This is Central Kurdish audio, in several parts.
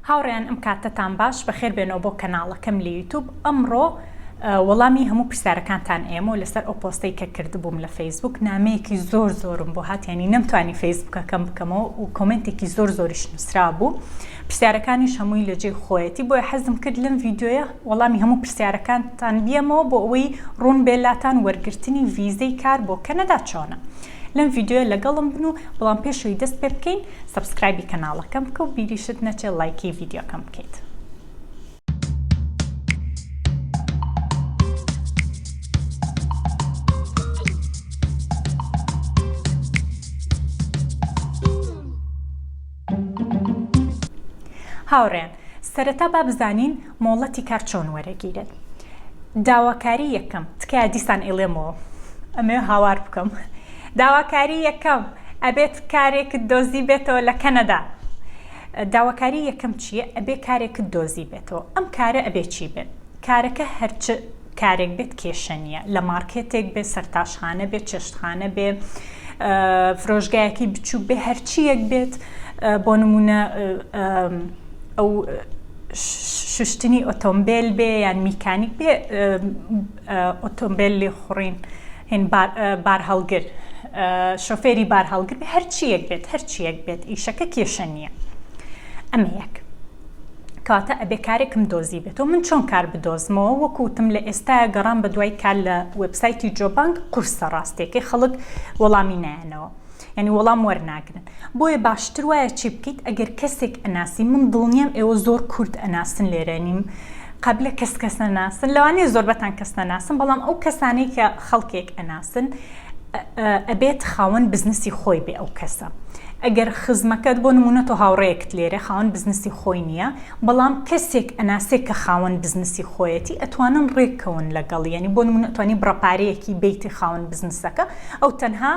هاوڕێیان ئەم کاتەتان باش بەخێر بێنەوە بۆ کەناڵەکەم لە یوتوب ئەمڕۆ وەڵامی هەموو پرسیارەکانتان ئێمە لەسەر ئەو پۆستەی کە کردبووم لە فەیسبوک نامەیەکی زۆر زۆرم بۆ هاتیانی نەمتوانی فەیسبوکەکەم بکەمەوە و کۆمنتێکی زۆر زۆریش نووسرا بوو پرسیارەکانیش هەمووی لە جێی خۆیەتی بۆیە حەزم کرد لەم ڤیددیوە وەڵامی هەموو پرسیارەکانتان بیەمەوە بۆ ئەوەی ڕوون بێلاتان وەرگرتنی ڤیزەی کار بۆ کەنەدا چۆنە لەم ڤیدیۆیە لەگەڵم بن و بەڵام پێش ئەوی دەست پێ بکەین سەبسکرایبی کەناڵەکەم بکە و بیریشت نەچێ ڵایکی ڤیدیۆکەم بکەیت. هاوڕێیان سەرەتا با بزانین مۆڵەتی کار چۆن وەرەگیرێت داواکاری یەکەم تکایە دیسان ئیڵێمەوە ئەمەوێ هاوار بکەم داواکاری یەکەم ئەبێت کارێکت دۆزی بێتەوە لە کەنەدا داواکاری یەکەم چییە ئەبێ کارێکت دۆزی بێتەوە ئەم کارە ئەبێ چی بێت کارەکە هەر چ کارێک بێت کێشە نییە، لە مارکێتێک بێ، سەرتاشخانە بێ، چێشتخانە بێ، فرۆشگایەکەی بچووک بێ، هەر چییەک بێت، بۆ نموونە ئەو شوشتنی ئۆتۆمبێل بێ یان میکانیک بێ، ئۆتۆمبێل لێخوڕین، بارهەڵگر، شۆفێری بارهەڵگر بێ، هەر چییەک بێت، هەر چییەک بێت ئیشەکە کێشە نییە. ئەمە یەک. کەواتە ئەبێ کارێکم دۆزیبێتەوە من چۆن کار بدۆزمەوە وەکو وتم لە ئێستایا گەڕام بە دوای کار لە وێبسایتی جۆبانک قورسە ڕاستیەکەی خەڵک وەڵامی نایەنەوە یعنی وەڵام وەرناگرن بۆیە باشتر وایە چی بکەیت ئەگەر کەسێک ئەناسی من دڵنیام ئێوە زۆر کورد ئەناسن لێرە نیم قبلە کەس کەس نەناسن لەوانەیە زۆربەتان کەس نەناسن بەڵام ئەو کەسانەی کە خەڵکێک ئەناسن ئەبێت خاوەن بزنسی خۆی بێ ئەو کەسە ئەگەر خزمەکەت بۆ نمونە تۆ هاوڕەیەکت لێرە خاوەن بزنسی خۆی نییە بەڵام کەسێک ئەناسێک کە خاوەن بزنسی خۆیەتی ئەتوانن ڕێککەون لەگەڵ یەنی بۆ نمونە توانی بڕەپارەیەکی بیتی خاوەن بزنسەکە ئەو تەنها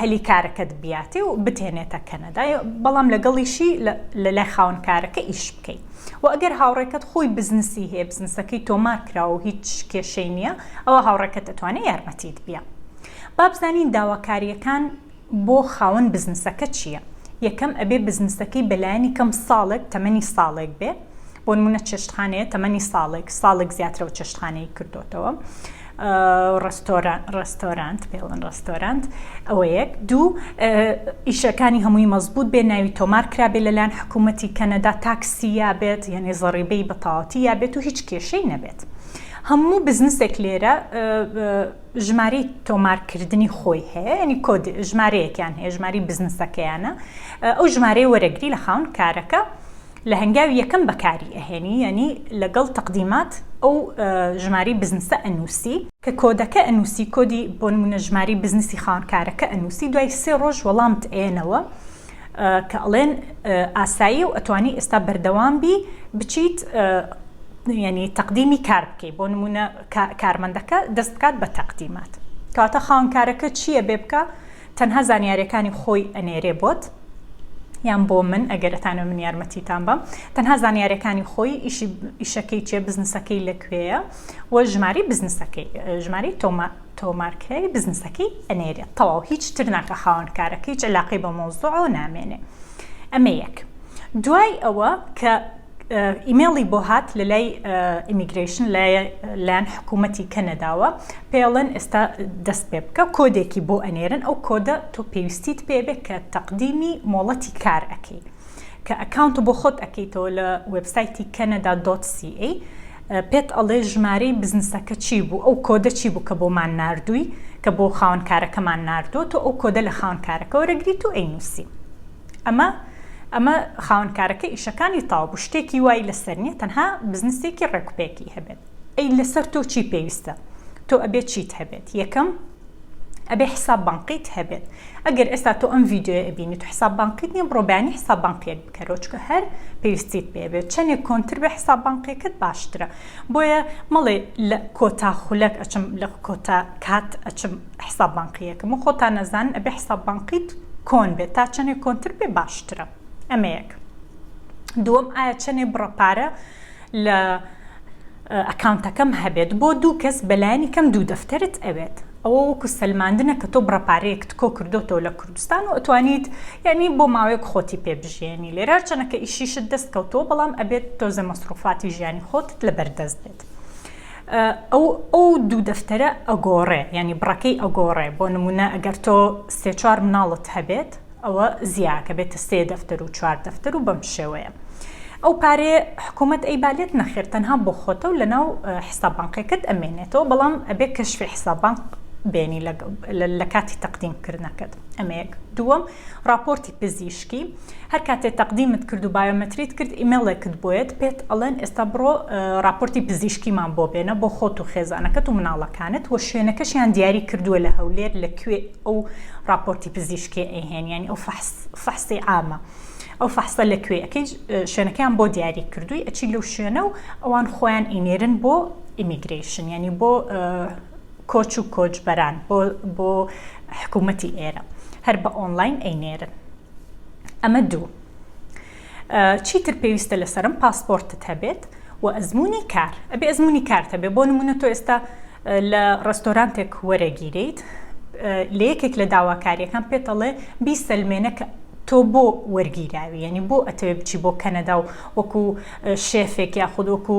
هەلی کارەکەت بیاتێ و بتێنێتە کەنەدا بەڵام لەگەڵیشی لە لای خاوەن کارەکە ئیش بکەیت و ئەگەر هاوڕێکەت خۆی بزنسی هەیە بزنسەکەی تۆمار کراوە و هیچ کێشەی نییە ئەوا هاوڕێکەت دەتوانێت یارمەتیت بیە. با بزانین داواکارییەکان بۆ خاوەن بزنسەکە چییە. یەکەم، ئەبێ بزنسەکەی بە لایەنی کەم ساڵێک، تەمەنی ساڵێک بێ. بۆ نموونە چێشتخانەیە تەمەنی ساڵێک، ساڵێک زیاترەوە چێشتخانەی کردۆتەوە. ڕێستۆرانت، پێی ئەڵێن ڕێستۆرانت. ئەوە یەک. دوو، ئیشەکانی هەمووی مەزبووت بێ، ناوی تۆمار کرابێ لەلایەن حکوومەتی کەنەدا، تاکسی یا بێت، یانێ زەڕیبەی بە تەواوەتی یا بێت و هیچ کێشەی نەبێت. هەموو بزنسێک لێرە ژمارەی تۆمارکردنی خۆی هەیە ینی کۆد ژمارەیەکیان هەیە ژماری بزنسەکەیانە ئەو ژمارەی وەرەگری لە خاون کارەکە لە هەنگاوی یەکەم بەکاری ئەهێنی یعنی لەگەڵ تەقدیمات ئەو ژماری بزنسە ئەنووسی کە کۆدەکە ئەنووسی کۆدی بۆ نمونە ژماری بزنسی خاونکارەکە ئەنووسی دوای سێ ڕۆژ وەڵامت ئەیەنەوە کە ئەڵێن ئاساییە و ئەتوانی ئێستا بەردەوام بی بچیت یعنی تەقدیمی کار بکەی بۆ نمونە کارمەندەکە دەست بکات بە تەقدیمات کەواتە خاونکارەکە چییە بێ بکە تەنها زانیارەکانی خۆی ئەنێرێ بۆت یان بۆ من ئەگەرتانە من یارمەتیتان بم تەنها زانیارەکانی خۆی ئیشی ئیشەکەی چێ بزنسەکەی لەکوێیە و ژماری بزنسەکەی ژماری تۆمە تۆمارکراوی بزنسەکەی ئەنێرێت تەواو هیچ تر ناکە خاوەن کارەکە هیچ علاقەی بە مەوزوعەوە نامێنێ ئەمە یەک دوای ئەوە کە ئیمێڵی بۆ هات لە لای ئیمیگرشن لایەن حکوومەتی کەنەداوە پێڵێن ئێستا دەست پێ بکە کۆدێکی بۆ ئەنێرن ئەو کۆدە تۆ پێویستیت پێبێت کە تەقدیمی مۆڵەتی کار ئەەکەی کە ئەکاونت بۆ خۆت ئەەکەیتەوە لە وبسایتی کەنەدا دۆسی پێت ئەڵێ ژمارەی بزنسەکە چی بوو ئەو کۆدە چی بوو کە بۆمان ناردووی کە بۆ خاوەن کارەکەمان ناردووە تۆ ئەو کۆدە لە خاوەن کارەکە وەرەگریت و ئەینووسی ئەمە ئەمە خاوەن کارەکە ئیشەکانی تاو بوو شتێکی وای لەسەر نیە تەنها بزنسێکی ڕێکوپێکی هەبێت ئەی لەسەر تۆ چی پێویستە تۆ ئەبێت چیت هەبێت یەکەم ئەبێ حساب بانقیت هەبێت. ئەگەر ئێستا تۆ ئەم ڤیدیۆیە ئەبینیت و حساب بانقیت نیە بڕۆ بەیانی حساب بانقیەک بکەرەوە چونکە هەر پێویستیت پێ بێت چەنێک کۆنتر بێ حساب بانقیەکەت باشترە بۆیە مەڵێ لە کۆتا خولەک ئەچم لە کۆتا کات ئەچم حساب بانقیەکم و خۆتان ئەزانن ئەبێ حساب بانقیت کۆن بێت تا چەنێک کۆنتر بێ باشترە ئەمە یەک دووەم ئایا چەنێ بڕە پارە لە ئەکاونتەکەم هەبێت بۆ دوو کەس بەلایەنی کەم دوو دەفتەرت ئەوێت ئەوە وەکو سەلماندنە کە تۆ بڕە پارەیەکت کۆ کردۆتەوە لە کوردستان و ئەتوانیت یانی بۆ ماوەیەک خۆتی پێ بژیێنی لێرە هەرچەنە کە ئیشیشت دەست کەوتووە بەڵام ئەبێت تۆزێ مەسروفاتی ژیانی خۆتت لە بەردەست بێت ئەو ئەو دوو دەفتەرە ئەگۆڕێ یانی بڕەکەی ئەگۆڕێ بۆ نمونە ئەگەر تۆ سێ چوار مناڵت هەبێت ئەوە زیاکە بێتە سێ دەفتەر و چوار دەفتەر و بەم شێوەیە ئەو پارەیە حکومەت ئەیبا لێت نەخێر تەنها بۆ خۆتە و لەناو حساب بانقیەکەت ئەمێنێتەوە بەڵام ئەبێ کەشفی حساب بانق بێنی لە کاتی تەقدیم کردنەکەت ئەمە یەک دووەم ڕاپۆرتی پزیشکی هەر کاتێ تەقدیمت کرد و بایۆمەتریت کرد ئیمێڵێکت بۆیەت پێت ئەڵێن ئێستا بڕۆ ڕاپۆرتی پزیشکیمان بۆ بێنە بۆ خۆت و خێزانەکەت و مناڵەکانت و شوێنەکەشیان دیاری کردووە لە هەولێر لە کوێ ئەو ڕاپۆرتی پزیشکێ ئەیهێن یانی ئەو فەحسی عامە ئەو فەحسە لە کوێ ئەەکەی شوێنەکەیان بۆ دیاری کردووی ئەچی لەو شوێنە و ئەوان خۆیان ئینێرن بۆ ئیمیگریشن ینی بۆ کۆچ و کۆچبەران بۆ حکوومەتی ئێرە هەر بە ئۆنلاین ئەینێرن ئەمە دوو چیتر پێویستە لەسەرم پاسپۆرتت هەبێت و ئەزموونی کار ئەبێ ئەزموونی کارت هەبێ بۆ نمونە تۆ ئێستا لە ڕێستۆرانتێک وەرەگیرێیت لە یەکێک لە داواکاریەکان پێت ئەڵێ بیسەلمێنە کە تۆ بۆ وەرگیراوی یعنی بۆ ئەتەوێ بچی بۆ کەنەدا و وەکو شێفێک یاخود وەکو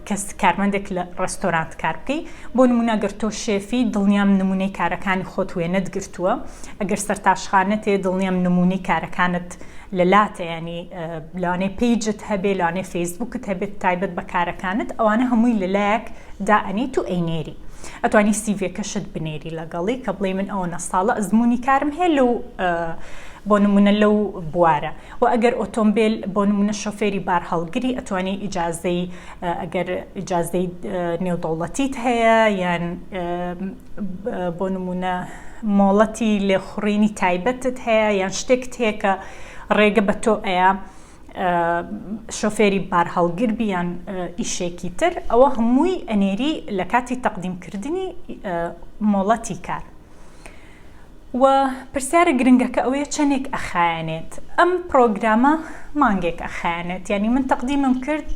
کەس کارمەندێک لە ڕستۆرانت کار بکەی بۆ نمونە گەر تۆ شێفی دڵنیام نمونەی کارەکانی خۆت وێنەت گرتووە ئەگەر سەرتاشخانەتێ دڵنیام نمونەی کارەکانت لە لاتە یانی لەوانەیە پیجت هەبێ لەوانەیە فەیسبوکت هەبێت تایبەت بە کارەکانت ئەوانە هەمووی لە لایەک دائەنیت و ئەینێری ئەتوانی سیڤەکەشت بنێری لەگەڵی کە بڵێ من ئەوە نەساڵە ئەزمموی کارم هەیە لەو بۆ نمونە لەو بوارە و ئەگەر ئۆتۆمبیل بۆ نمونە شۆفێری بار هەڵگری ئەتوانی ئیجاازەی ئەگەر ئیجاازەی نێودەوڵەتیت هەیە یان بۆ نموونە مۆڵەتی لێخوڕینی تایبەتت هەیە یان شتێکت هەیە کە ڕێگە بە تۆ ئەیە شۆفێری بارهەڵگر بیان ئیشێکی تر ئەوە هەمووی ئەنێری لە کاتی تەقدیمکردنی مۆڵەتی کار. و پرسیارە گرنگەکە ئەوەیە چەنێک ئەخایەنێت ئەم پرۆگرامە مانگێک ئەخایەنێت یانی من تەقدیمم کرد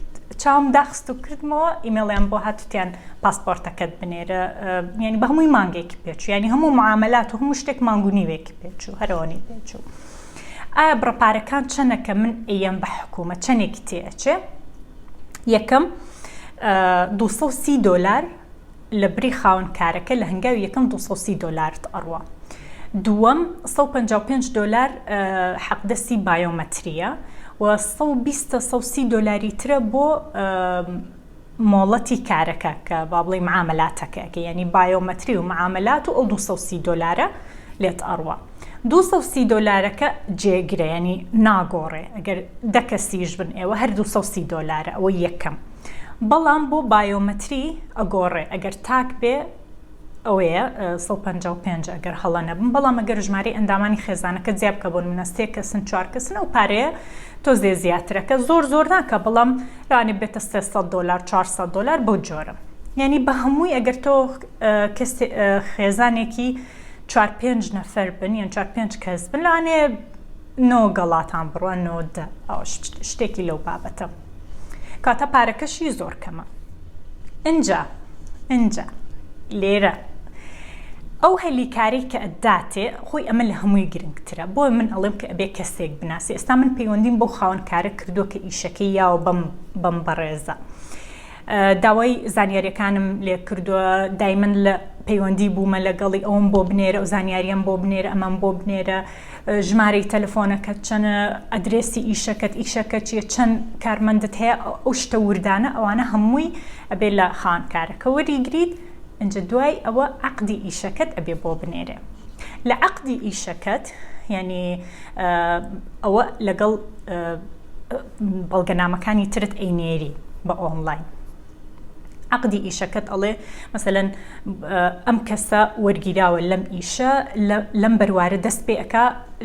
چاوم داخست و کردمەوە ئیمێڵیان بۆ هاتوتیان پاسپۆرتەکەت بنێرە یعنی بە هەمووی مانگێکی پێچوو یعنی هەموو معاملات و هەموو شتێک مانگ و نیوێکی پێچوو هەرەوەنی پێچوو ئایا بڕەپارەکان چەنەکە من ئەیەم بە حکوومە چەنێکی تێ ئەچێ یەکەم 230 دۆلار لەبری خاوەن کارەکە لە هەنگاوی یەکەم دوو سەد و سی دۆلارت ئەڕوا دووەم سەد و پەنجا و پێنج دۆلار حەقدەستی بایۆمەتریە و سەد و بیست تا سەد و سی دۆلاری ترە بۆ مۆڵەتی کارەکە کە با بڵێ معاملاتەکە کە یعنی بایۆمەتری و معاملات و ئەو دوو سەد و سی دۆلارە لێت ئەڕوا دوو سەد و سی دۆلارەکە جێگرە یعنی ناگۆڕێ ئەگەر دە کەسیش بن ئێوە هەر دوو سەد و سی دۆلارە ئەوە یەکەم بەڵام بۆ بایۆمەتری ئەگۆڕێ ئەگەر تاک بێ ئەوەیە سەد و پەنجا و پێنج ئەگەر هەڵە نەبم بەڵام ئەگەر ژمارەی ئەندامانی خێزانەکە جیا بکە بۆ نمونە سێ کەسن چوار کەسن ئەو پارەیە تۆزێ زیاترە کە زۆر زۆر ناکە بەڵام لەوانێ بێتە سێ سەد دۆلار چوار سەد دۆلار بەو جۆرە یعنی بە هەمووی ئەگەر تۆ خێزانێکی چوار پێنج نەفەر بن یان چوار پێنج کەس بن لەوانێ نۆ گەڵاتان بڕە نۆ دە شتێکی لەو بابەتە کاتە پارەکەشی زۆر کەمە ئنجا ئنجا لێرە ئەو هەلیکاری کە ئەداتێ خۆی ئەمە لە هەمووی گرنگترە بۆ من ئەڵێم کە ئەبێ کەسێک بناسی ئێستا من پەیوەندیم بۆ خاوەنکارە کردو کە ئیشەکەی یاوە بەم بەم بەڕێزە داوای زانیاریەکانم لێ کردوە دایمن لە پەیوەندی بومە لەگەڵی ئەوم بۆ بنێرە و زانیاریەم بۆ بنێرە ئەمەم بۆ بنێرە ژمارەی تەلەفۆنەکەت چەنە ئەدرێسی ئیشەکەت ئیشەکە چیە چەند کارمەندت هەیە ئەو شتە وردانە ئەوانە هەمووی ئەبێ لە خان کارەکە وەریگریت ئەجا دوای ئەوە عقدی ئیشەکەت ئەبێ بۆ بنێرێ لە عقدی ئیشەکەت یعنی ئەوە لەگەڵ بەڵگەنامەکانی ترت ئەینێری بە ئۆنڵاین عقدی ئیشەکەت ئەڵێ مەسەەن ئەم کەسە وەرگیراوە لەم ئیشە لەم بەروارە دەست پێ ئەک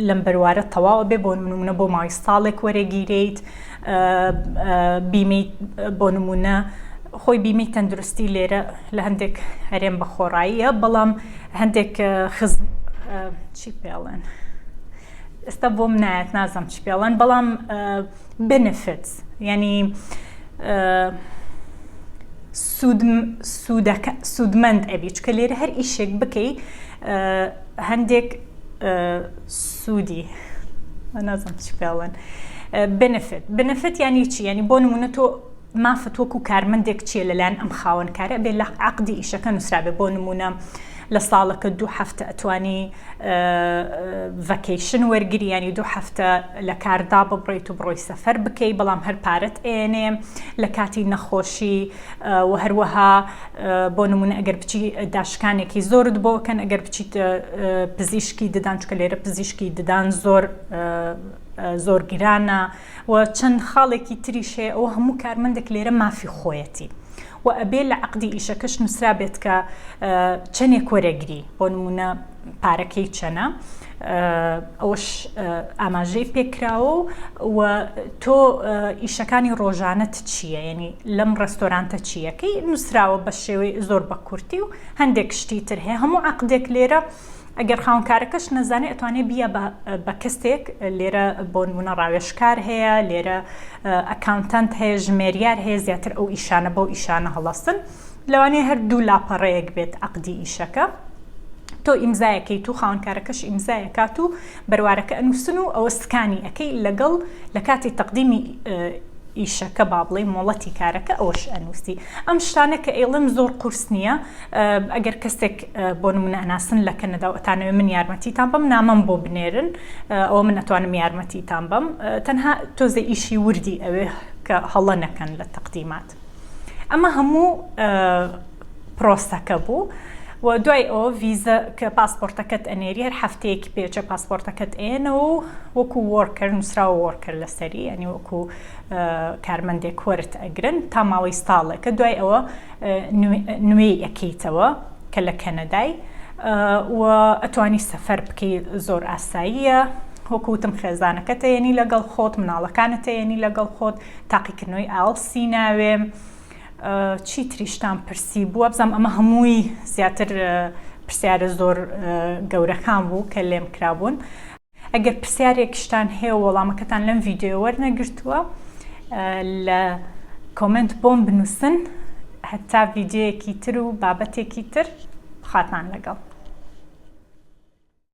لەم بەروارە تەواوە بێ بۆ منە بۆ ماوەی ساڵێک وەرەگیرێیت بیمی بۆ نمونە خۆی بیمی تەندروستی لێرە لە هەندێک هەرێم بە خۆڕاییە بەڵام هەندێک خز چی پێڵێن؟ ئێستا بۆم نایەت نازم چ پێڵەن بەڵام بنفت یعنی سوودمەند ئەبی چکە لێرە هەر ئیشێک بکەی هەندێک سوودی نازم چ پێڵەن بنفت بنفت یعنی چی یعنی بۆ نمونە تۆ مافت وەکو کارمەندێک چیە لەلایەن ئەم خاوەنکارە بێ لە عقدی ئیشەکە نووسرابێ بۆ نمونە لە ساڵەکە دوو هەفتە ئەتوانی ڤەکەیشن وەرگری یانی دوو هەفتە لە کاردا ببڕیت و بڕۆی سەفەر بکەی بەڵام هەر پارەت ئێنێ لە کاتی نەخۆشی و هەروەها بۆ نمونە ئەگەر بچی داشکانێکی زۆرت بۆکەن ئەگەر بچیت پزیشکی ددان چکە لێرە پزیشکی ددان زۆر زۆر گرانە و چەند خاڵێکی تریش هەیە ئەوە هەموو کارمەندێک لێرە مافی خۆیەتی و ئەبێ لە عەقدی ئیشەکەش نووسرابێت کە چەنێک وەرەگری بۆ نموونە پارەکەی چەنە ئەوەش ئاماژەی پێکراوە و تۆ ئیشەکانی ڕۆژانەت چییە یعنی لەم ڕستۆرانتە چییەکەی نووسراوە بە شێوەی زۆر بە کورتی و هەندێک شتی تر هەیە هەموو عقدێک لێرە ئەگەر خاوەنکارەکەش نەزانێ ئەتوانێ بیە بە بە کەسێک لێرە بۆنمونە ڕاوێژکار هەیە لێرە ئەکاونتەنت هەیە ژمێریار هەیە زیاتر ئەو ئیشانە بەو ئیشانە هەڵەستن لەوانەیە هەر دوو لاپەڕەیەک بێت عقدی ئیشەکە تۆ ئیمزایەکەی تو خاونکارەکەش ئیمزایە کات و بەروارەکە ئەنووسن و ئەوە سکانی ئەەکەی لەگەڵ لە کاتی تەقدیمی ئیشەکە با بڵێ مۆڵەتی کارەکە ئەوش ئەنووسی ئەم شتانە کە ئێڵم زۆر قورس نییە ئەگەر کەسێک بۆ نمونە ئەناسن لە کەنەدا و ئەتانەوێ من یارمەتیتان بەم نامەم بۆ بنێرن ئەوە من ئەتوانم یارمەتیتان بەم تەنها تۆزێ ئیشی وردی ئەوێ کە هەڵە نەکەن لە تەقدیمات ئەمە هەموو پرۆسەکە بوو و دوای ئەوە ڤیزە کە پاسپۆرتەکەت ئەنێری هەر هەفتەیەکی پێچە پاسپۆرتەکەت ئێنەوە و وەکو وۆرکەر نووسراوە وۆرکەر لەسەری ئەنی وەکو کارمەندێک وەرت ئەگرن تا ماوەی ساڵێکە دوای ئەوە نوێی ئەکەیتەوە کە لە کەنەدای و ئەتوانی سەفەر بکەی زۆر ئاساییە وەکوتم خێزانەکە تەیەنی لەگەڵ خۆت مناڵەکانە تەیەنی لەگەڵ خۆت تاقیکردنەوەی ئاڵسی ناوێ چی تریشتان پرسی بووە بزانام ئەمە هەمووی زیاتر پرسیارە زۆر گەورەکان بوو کە لێم کرابوون ئەگەر پرسیارێکیشتان هەیە و وەڵامەکەتان لەم ڤیدیۆیە وەرنەگرتووە لە کۆمێنت بۆم بنووسن هەتا ڤیدیۆیەکی تر و بابەتێکی تر خواتان لەگەڵ.